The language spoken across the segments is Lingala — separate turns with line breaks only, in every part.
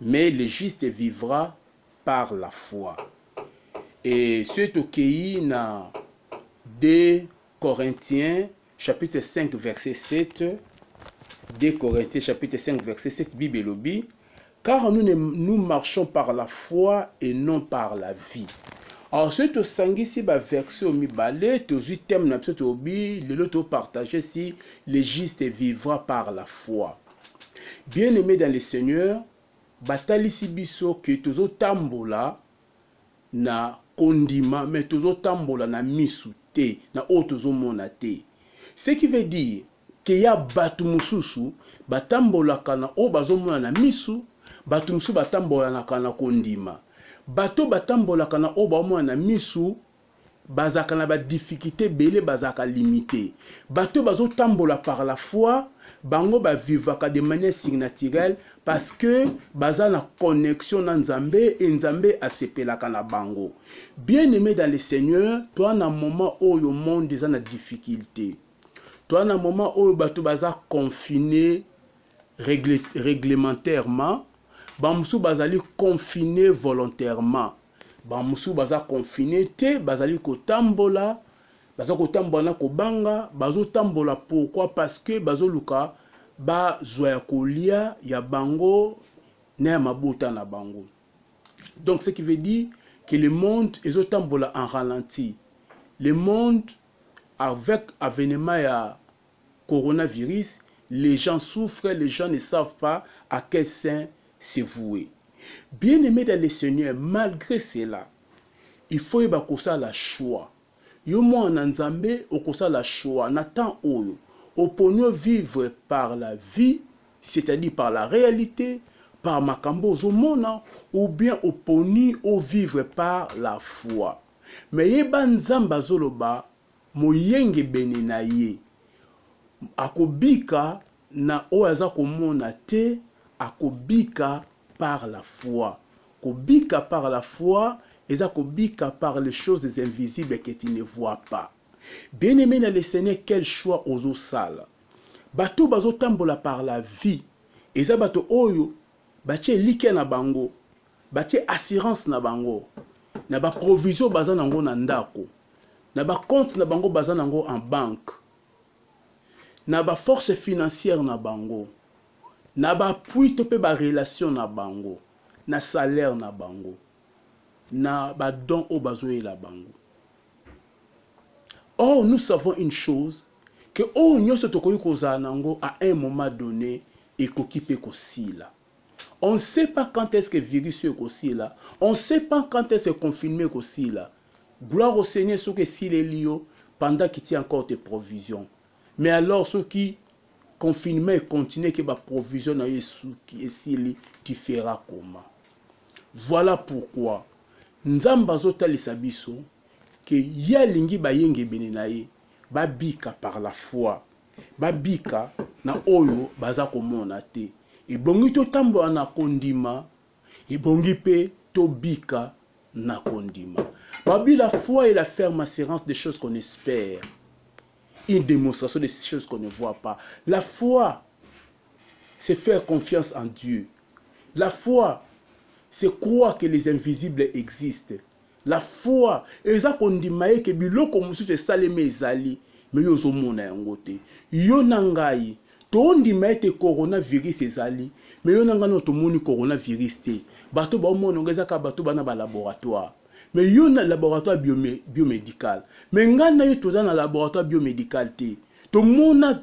mais le juste vivra par la foi et soki tokei na 2 corinthiens chapitre 5 verset 7 2 corinthiens chapitre 5 verset 7 bible elobi car nous, ne, nous marchons par la foi et non par la vie alors soki tosangisi baverse oyo mibale tozwi teme na biso tolobi lelo topartage si le juste vivra par la foi bien aimé dans le seigneur batalisi biso ke tozotambola na kondima me tozotambola na misu te na oyo tozomona te ce qui veut dire ke ya bato mosusu batambolaka na oyo bazomona na misu bato mosusu batambolanaka na kondima bato batambolaka na oyo baomona na misu bazalaka na badifficulte ebele bazalaka limite bato bazotambola par la foi bango bavivaka de manière signaturelle parce que baza na connexion na nzambe e nzambe asepelaka na bango bien aimé dans le seigneur toa na moment oyo monde eza na difficulté toa na moment oyo bato baza confine réglementairement bamosusu bazali confine volontairement bamosusu baza confine te bazali kotambola baza kotambola na kobanga bazotambola pourkui parce que bazoluka bazwa ya kolia ya bango na ya mabota na bango donc ce qui veut dire que le monde ezotambola en ralenti le monde avec avenement ya coronavirus les gens souffrent les gens ne savent pas à quel saint se vouer bien aimé dans le seigneur malgré cela il faut yeba kosala choix yo mwana na nzambe okosala choix na temps oyo oponi vivre par la vie c'est-à-dire par la réalité par makambo ozomona ou bien oponi vivre par la foi mais yeba nzambe azoloba moyengebene na ye. Akobika na oyo aza komona te, akobika par la foi. Kobika par la foi eza kobika par les choses invisibles que tu ne vois pas. Bien aimé na le Seigneur, quel choix ozosala? Bato bazotambola par la vie eza bato oyo batie elikya na bango batie assurance na bango na baprovision baza na yango na ndako na bacompte na bango baza na yango en banque na baforce financière na bango na baappui to mpe barelation na bango na salaire na bango na badon oyo bazoyela bango or nous savons une chose ke oyo nyonso tokoki kozala na yango à un moment donné ekoki mpe kosila On ne sait pas quand est-ce que virus oyo ekosila. On ne sait pas quand est-ce que confinement ekosila. Gloire au Seigneur soki esileli yo pendant qu'il tient encore tes provisions. Mais alors soki confinement et continuer que ba provision na esuki esili tu feras comment voilà pourquoi nzambe azotalisa biso ke ye alingi bayengebene na ye babika par la foi babika na oyo baza komona te ebongi totambola na kondima ebongi mpe tobika na kondima babi la foi et la ferme assurance des choses qu'on espère une démonstration des choses qu'on ne voit pas la foi c'est faire confiance en Dieu la foi c'est croire que les invisibles existent La foi eza kondima ye ke biloko mosusu esalemi ezali me yo ozomona yango te. Yo na ngai tondima ete coronavirus ezali me yo na ngai nao tomoni coronavirus te. Bato baomona yango eza kaka bato bana ba laboratoire me yo na laboratoire biome, biomedical me ngai na yo toza na laboratoire biomedical te tomona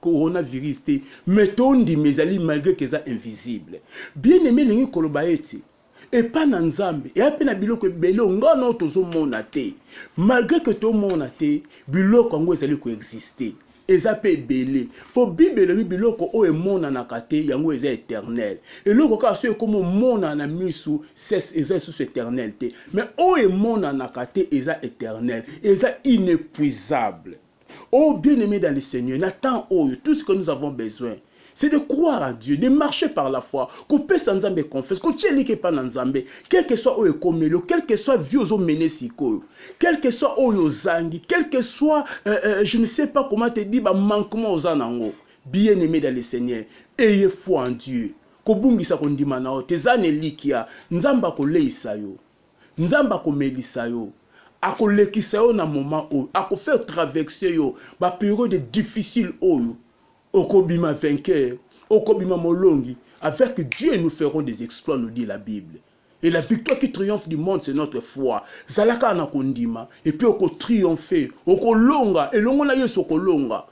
coronavirus te me tondima ezali malgre ke eza invisible. Bien aime elingi koloba ete epa na nzambe eya mpe na biloko ebele ngai nao tozomona te malgre ke tomona te biloko yango ezali koexiste eza mpe ebele mpo bible elobi biloko oyo emonanaka te yango eza éternel eloko kaka soki ekoma omonana na misu ses eza lisusu éternel te mais oyo emonanaka te eza éternel eza inépuisable Oh bien-aimé dans le Seigneur, na temps oyo, tout ce que nous avons besoin, c'est de croire à Dieu, de marcher par la foi, kopesa Nzambe confiance, kotielike pa na Nzambe, quel que soit oyo ekomelo, quel que soit vie ozo mener sikoyo, quel que soit oyo ozangi, quel que soit, euh, euh, je ne sais pas comment te dire, ba manquement oza nango, bien-aimé dans le Seigneur, ayez foi en Dieu. kobungisa kondima na yo te eza na elikia nzambe akoleisa yo nzambe akomelisa yo akolekisa yo na moment oyo akofaire traverse yo baperiode difficile oyo okobima vainqueur okobima molongi avec dieu nous ferons des exploits nous dit la bible et la victoire qui triomphe du monde c'est notre foi zala kaka na kondima epuis okotriomphe okolonga elongo na yesu okolonga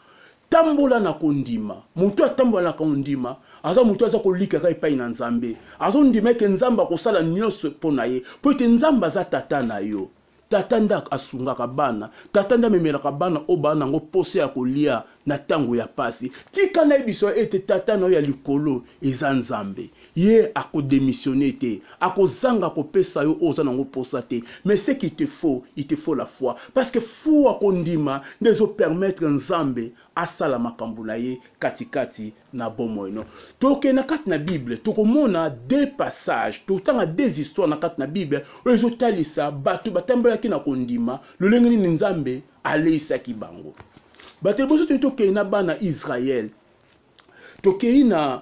tambola na kondima moto atambola na kondima aza moto aza kolikaka epai na nzambe azondima ete nzambe akosala nyonso mpo na ye mpo ete nzambe aza tata na yo tata nde asungaka bana tata nde amemelaka bana oyo baa nango mposa ya kolia na ntango ya mpasi tika nayebiso ete tata na yo ya likolo eza nzambe ye ako demissionne te akozanga kopesa yo oyo oza nango mposa te mais ce qui te faut il te faut la foi parce que fua kondima nde ezopermettre nzambe asala makambo na ye katikati na bomoi no tokei na kati na bible tokomona deux passage totanga deux histoire na kati na bible oyo ezotalisa bato batambolaki na kondima lolenge nini nzambe aleisaki bango bato liboso toni tokei na bana israele tokei na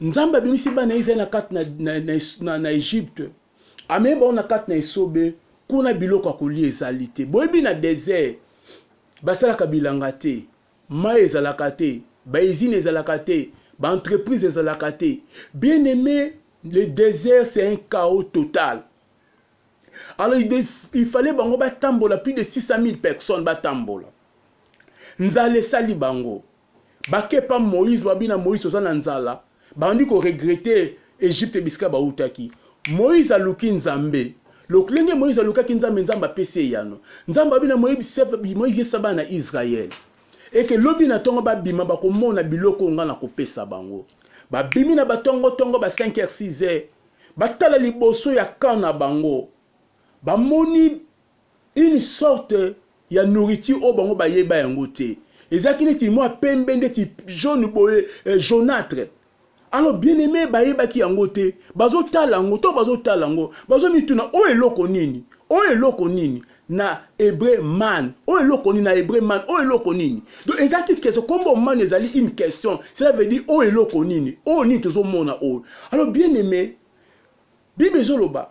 nzambe abimisi bana ya israele na kati na, na, na, na, na egypte amemi bango na kati na esobe kuna biloko ya kolia ezali te boyebi na desert basalaka bilanga te mai ezalaka te baizine ezalaka te baentreprise ezalaka te bien aimé le désert c'est un chaos total alors il fallait bango batambola plus de 600 000 personnes batambola nzala esali bango bakepa moïse babi na moïse oza na nzala bandi koregrete egypte bisika bautaki moïse aluki nzambe lokulenge moïse alukaki nzambe nzambe apesi eyano nzambe abi na moïse yebisa bana na israele eke lobi na ntongo babima bakomona biloko ngai nakopesa bango babimi na batongotongo ba 5 h 6 h batala liboso ya camp na bango bamoni une sorte ya nourriture oyo bango bayeba yango te ezalaki neti mwa pembe ndeti jaune boye eh, jaunâtre alors bien aimé bayebaki yango te bazotala yango to bazotala yango bazomituna oyo eloko nini oyo eloko nini na hebreu man oyo eloko nini na hebreu man oyo eloko nini donc ezalaki keso nkombo man ezali une question cela veut dire oyo eloko nini oyo nini tozomona oyo alors bien aimé Bible ezoloba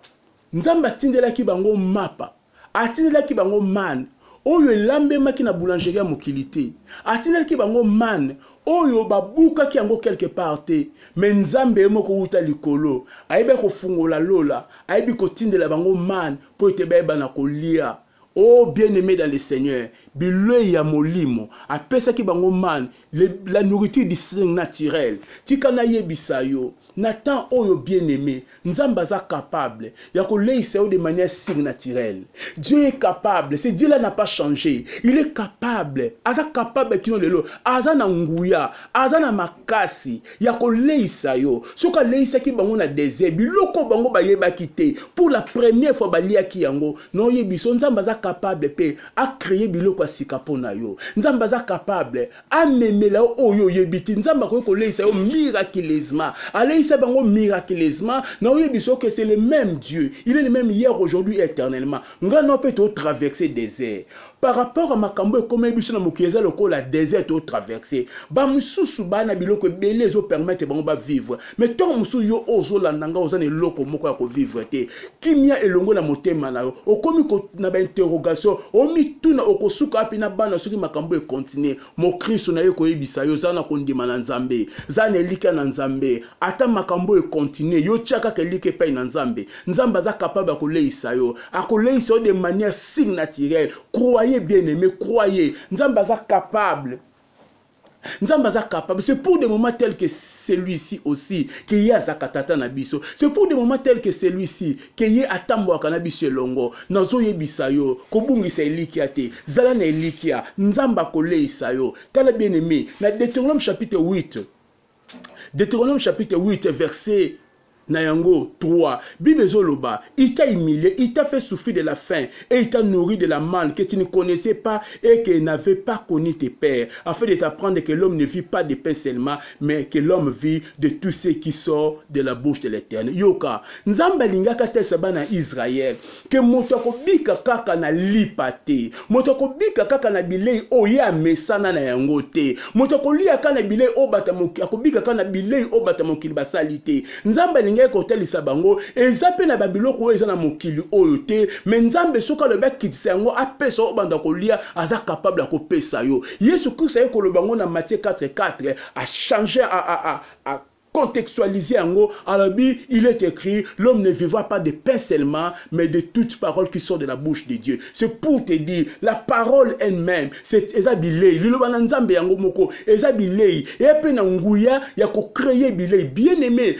Nzambe atindelaki bango mapa, atindelaki bango man oyo elambemaki na boulangerie ya mokili te, atindelaki bango man oyo babukaki yango quelque part te, me Nzambe ye moko wuta likolo ayebi kofungola lola, ayebi kotindela bango man mpo ete bayeba na kolia. Oh bien-aimé dans le Seigneur, bilei ya molimo apesaki bango man la nourriture du naturel. Tika nayebisa yo na temps oyo bien-aimé, Nzambe aza capable ya koleisa yo de manière surnaturelle. Dieu est capable, ce Dieu là n'a pas changé. Il est capable, aza capable kino lelo, aza na nguya, aza na makasi, ya koleisa yo soki aleisaki bango na desert biloko bango bayebaki te pour la première fois baliaki yango na oyebi so nzambe aza capable mpe acreye biloko ya sika mpo na yo nzambe aza capable amemela yo oyo oyebi te nzambe akoki koleisa yo miraculeusement aleisa bango miraculeusement na oyebi so que c'est le même dieu il est le même hier aujourd'hui éternellement ngai na mpe totraverse desert par rapport ya makambo ekomeli biso na mokili eza lokola desert to traverse bamosusu baa na biloko ebele ezopermettre bango bavivre mai ntango mosusu yo oyo ozolanda ngai oza na eloko moko ya kovivre te kimia elongo na motema na yo okomi na bainterrogation omituna okosuka api na bana soki makambo ekontinue mokristo naye koyebisa yo zala na kondima na nzambe zala na elikya na nzambe ata makambo oyo ekontinue yo tya kaka elikya epai na nzambe nzambe aza kapable ya koleisa yo akoleisa yo de manière signe naturelle croye bien aime croye nzambe aza capable nzambe aza capable c'est pour des moments tels que celui-ci aussi ke ye azaka tata na biso c'est pour des moments tels que celui-ci ke ye atambolaka na biso elongo nazoyebisa yo kobungisa elikya te zala na elikya nzambe akoleisa yo tala bien aime na deuteronome chapitre 8 deuteronome chapitre 8 verset na yango 3 bible ezoloba il t'a humilié il t'a fait souffrir de la faim et il t'a nourri de la manne que tu ne connaissais pas et que n'avait pas connu tes pères afin de t'apprendre que l'homme ne vit pas de pain seulement mais que l'homme vit de tout ce qui sort de la bouche de l'éternel yoka nzambe alingaki atalisa bana ya israele ke moto akobika kaka na lipa te moto akobika kaka na bilei oyo ye amesana na yango te moto akolia kaka na bilei oyo bata mokili akobika kaka na bilei oyo bata mokili basali te nzambe alingaki kotalisa bango eza mpe na babiloko oyo eza na mokili oyo te me nzambe soki alobi akitisa yango apesa oyo banda kolia aza kapable ya kopesa yo Yesu Christ aye koloba yango na Matthieu 4 4 a changer a, a, a, a contextualiser yango alobi il est écrit l'homme ne vivra pas de pain seulement mais de toute parole qui sort de la bouche de Dieu c'est pour te dire la parole elle-même c'est eza bilei liloba na nzambe yango moko eza bilei eya mpe na nguya ya kocreye bilei bien aimé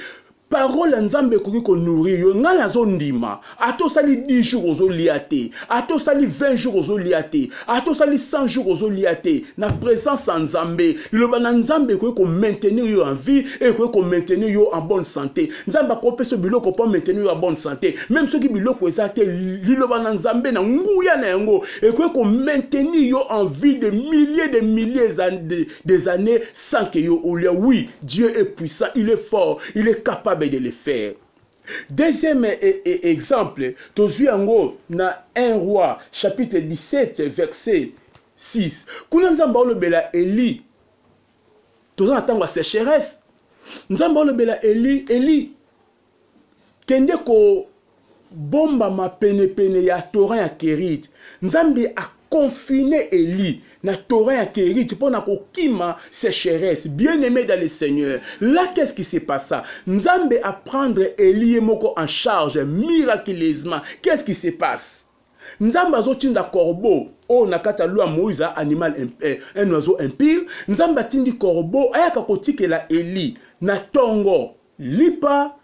parole ya nzambe ekoki konourrir yo ngai nazondima ata osali 10 jours ozolia te ata osali 20 jours ozolia te ata osali 100 jours ozolia te na présence ya nzambe liloba na nzambe ekoki komaintenir yo en vie ekoki komaintenir yo en bonne santé nzambe akopesa yo biloko mpo maintenir yo en bonne santé meme soki biloko eza te liloba na nzambe na nguya na yango ekoki komaintenir yo en vie de milliers de milliers des années sans que yo olia oui dieu est puissant il est fort il est capable de le faire deuxième e, e, exemple tozwi yango na 1 roi chapitre 17 verset 6 kuna nzambe aolobela eli toza na ntango ya sécheresse nzambe aolobela eli eli kende kobombama penepene ya torrent ya kerite nzambe akonfine eli na torrent ya kerite mpo na kokima sécheresse bien aimé dans le seigneur là qu'est ce qui se passa nzambe aprendre eli ye moko en charge miraculeusement qu'est ce qui se passe nzambe azotinda corbeau oyo na kati ya loi moïse a animal eh, un oiseau impire nzambe atindi corbeau ayaka kotikela eli na tongo Lipa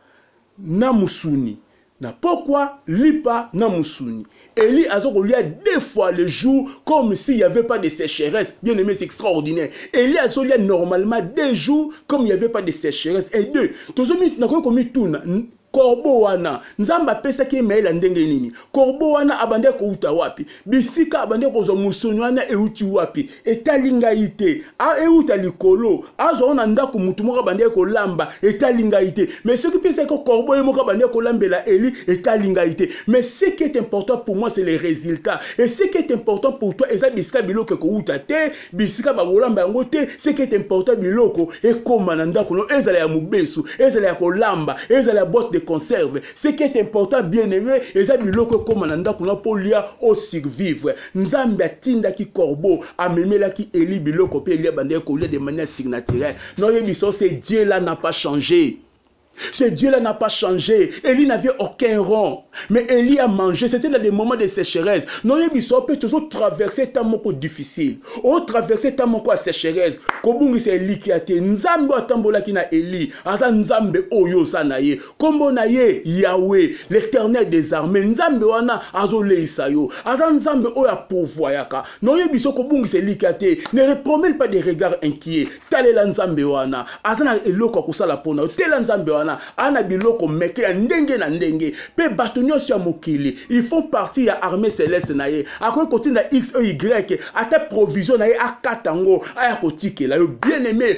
na musuni. na pokwa lipa na musuni eli aza kolia deux fois le jour comme s'il y avait pas de sécheresse bien aimé c'est extraordinaire eli azolia normalement deux jours comme il y avait pas de sécheresse et deux tozomi nakoki komituna korbo wana nzambe apesaki ye mayele ya ndenge nini korbo wana abandaki kouta wapi bisika abandi kozwa mosuni wana euti wapi etali ngai te euta likolo azwa wana ndako motu moko abandaki kolamba etali ngai te mais soki mpe ezalaki korbo ye moko abandaki kolambela eli etali ngai te mais ce qui est important pour moi c'est les résultats et ce qui est important pour toi eza bisika biloko ekouta te bisika bakolamba yango te ce qui est important biloko ekóma na ndako no ezala ya mobesu ezala ya kolamba ezala ya boite de conserve ce qui est important bien aimé eza biloko ekóma na ndako na mpo olia osurvivre nzambe atindaki corbeau amemelaki eli biloko mpe eli abandaki kolia de manière signaturelle noyebisa ose dieu là n'a pas changé Ce Dieu-là n'a pas changé. Élie n'avait aucun rond. Mais Élie a mangé. C'était dans des moments de sécheresse. Non, il y a des choses traversées tant moko difficile. On traversé tant moko à sécheresse. Kobungi c'est Élie qui a été. Nzambe atambola qui na Élie. Aza Nzambe oyo zanaye. nkombo na ye yawe l'éternel des armées nzambe wana azoleisa yo aza nzambe oyo apovoyaka na oyebi so kobungisa elikya te ne repromene pas des regards inquiet talela nzambe wana aza na eloko ya kosala mpo na yo tela nzambe wana aza na biloko meke ya ndenge na ndenge mpe bato nyonso ya mokili ils font partie ya armée céleste na ye akoki kotinda x e y ata provision na ye akata yango aya kotikela yo bien aimé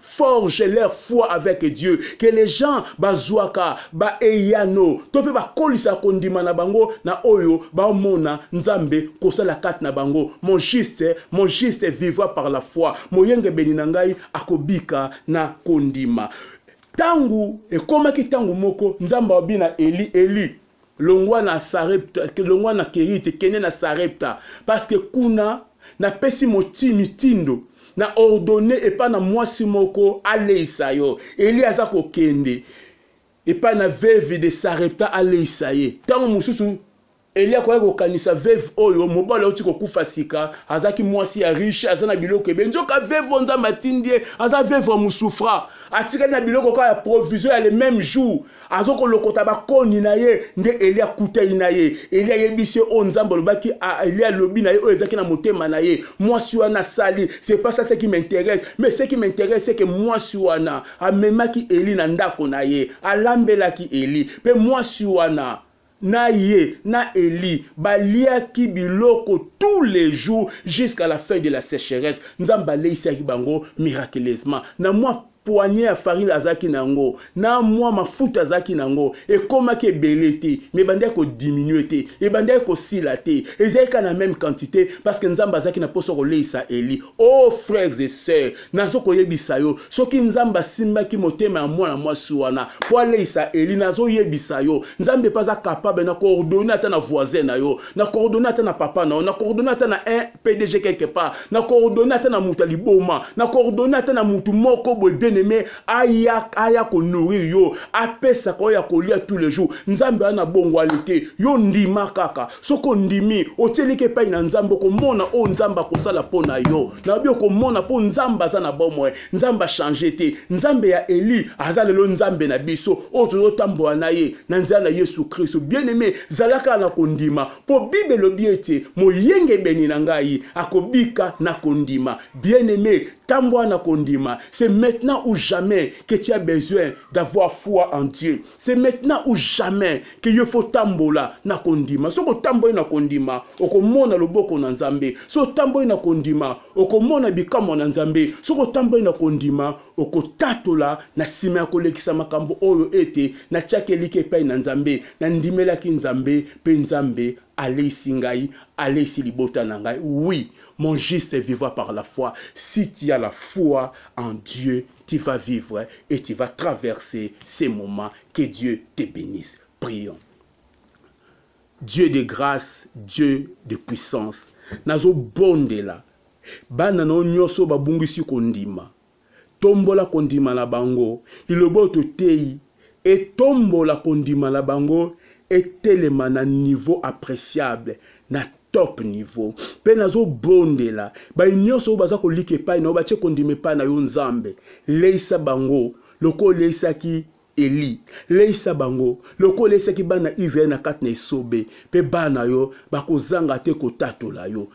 forge leur foi avec Dieu que les gens bazwaka ba eyano to mpe bakolisa kondima na bango na oyo baomona Nzambe kosala kati na bango mon juste mon juste vivra par la foi moyengebeni na ngai akobika na kondima ntango ekomaki ntango moko Nzambe alobi na Eli Eli longwa na sarepta longwa na kerite kende na sarepta parceke kuna napesi moti mitindo na ordone epai na mwasi moko aleisa yo eli aza kokende epai na veve de sarepta aleisa ye ntango mosusu eli akoki kokanisa veve oyo mobali auti kokufa sika azalaki mwasi ya riche aza na biloko ebe nzoka veve oyo nzambe atindi ye aza veve ya mosufra atikali na biloko kaka ya provision ya le même jour azo kolokota bakoni na ye nde eli akutani na ye eli ayebisi ye oyo nzambe alobaki eli alobi na ye oyo ezalaki na motema na ye mwasi wana asali c'est pas ça ce qui m'intéresse mais ce qui m'intéresse c'est que mwasi wana amemaki eli na ndako na ye alambelaki eli mpe mwasi wana na ye na eli baliaki biloko tous les jours jusqu'à la fin de la sécheresse nzambe aleisaki bango miraculeusement na mwa poignée ya farine azalaki na yango na mwa mafuta azalaki na yango ekomaki ebele te mais ebandaki kodiminue te ebandaki kosila te ezalaki kaka na meme quantité parce que nzambe azalaki na mposa koleisa eli o oh, frères et sœurs nazo koyebisa yo soki nzambe asimbaki motema ya mwana mwasi wana mpo aleisa eli nazoyebisa yo nzambe mpe aza kapable na koordone ata na voisin na yo na koordone ata na papa na yo na koordone ata na un pdg quelque part na koordone ata na moto ya liboma na koordone ata na moto moko boye bien aime aya, aya konourrir yo apesaka oyo ya kolia tous les jours nzambe wana na bongwani te yo ndima kaka soki ondimi otyeliki epai na nzambe okomona oyo nzambe akosala mpo na yo nayobi okomona mpo nzambe aza na bomoi nzambe achange te nzambe ya eli aza lelo nzambe na biso oyo tozotambola na ye na nzela na yesu kristo bien aime zalaka na kondima mpo bible elobi ete moyengebeni na ngai akobika na kondima bien aime tambola na kondima c'est maintenant ou jamais que tu as besoin d'avoir foi en dieu c'est maintenant ou jamais ke yo fo otambola na kondima soki otamboli na kondima okomona loboko na nzambe soki otamboli na kondima okomona bikamwa na nzambe soki otamboli na kondima okotatola na nsima ya kolekisa makambo oyo ete natyaki eliki epai na nzambe nandimelaki nzambe mpe nzambe aleisi ngai aleisi libota na ngai oui mon juste vivra par la foi si tu as la foi en dieu tu vas vivre et tu vas traverser ces moments. Que Dieu te bénisse. Prions. Dieu de grâce, Dieu de puissance. Nazo bondela. Bana no nyoso babungisi kondima. Tombola kondima na bango. Lilobo to tei etombola kondima na bango etelema na niveau appréciable na top niveau mpe nazobondela baye nyonso oyo baza kolika epai na yo batye kondima epai na yo nzambe leisa bango lokola oleisaki eli leisa bango lokola oleisaki bana israele na kati na esobe mpe bana yo bakozanga te kotatola yo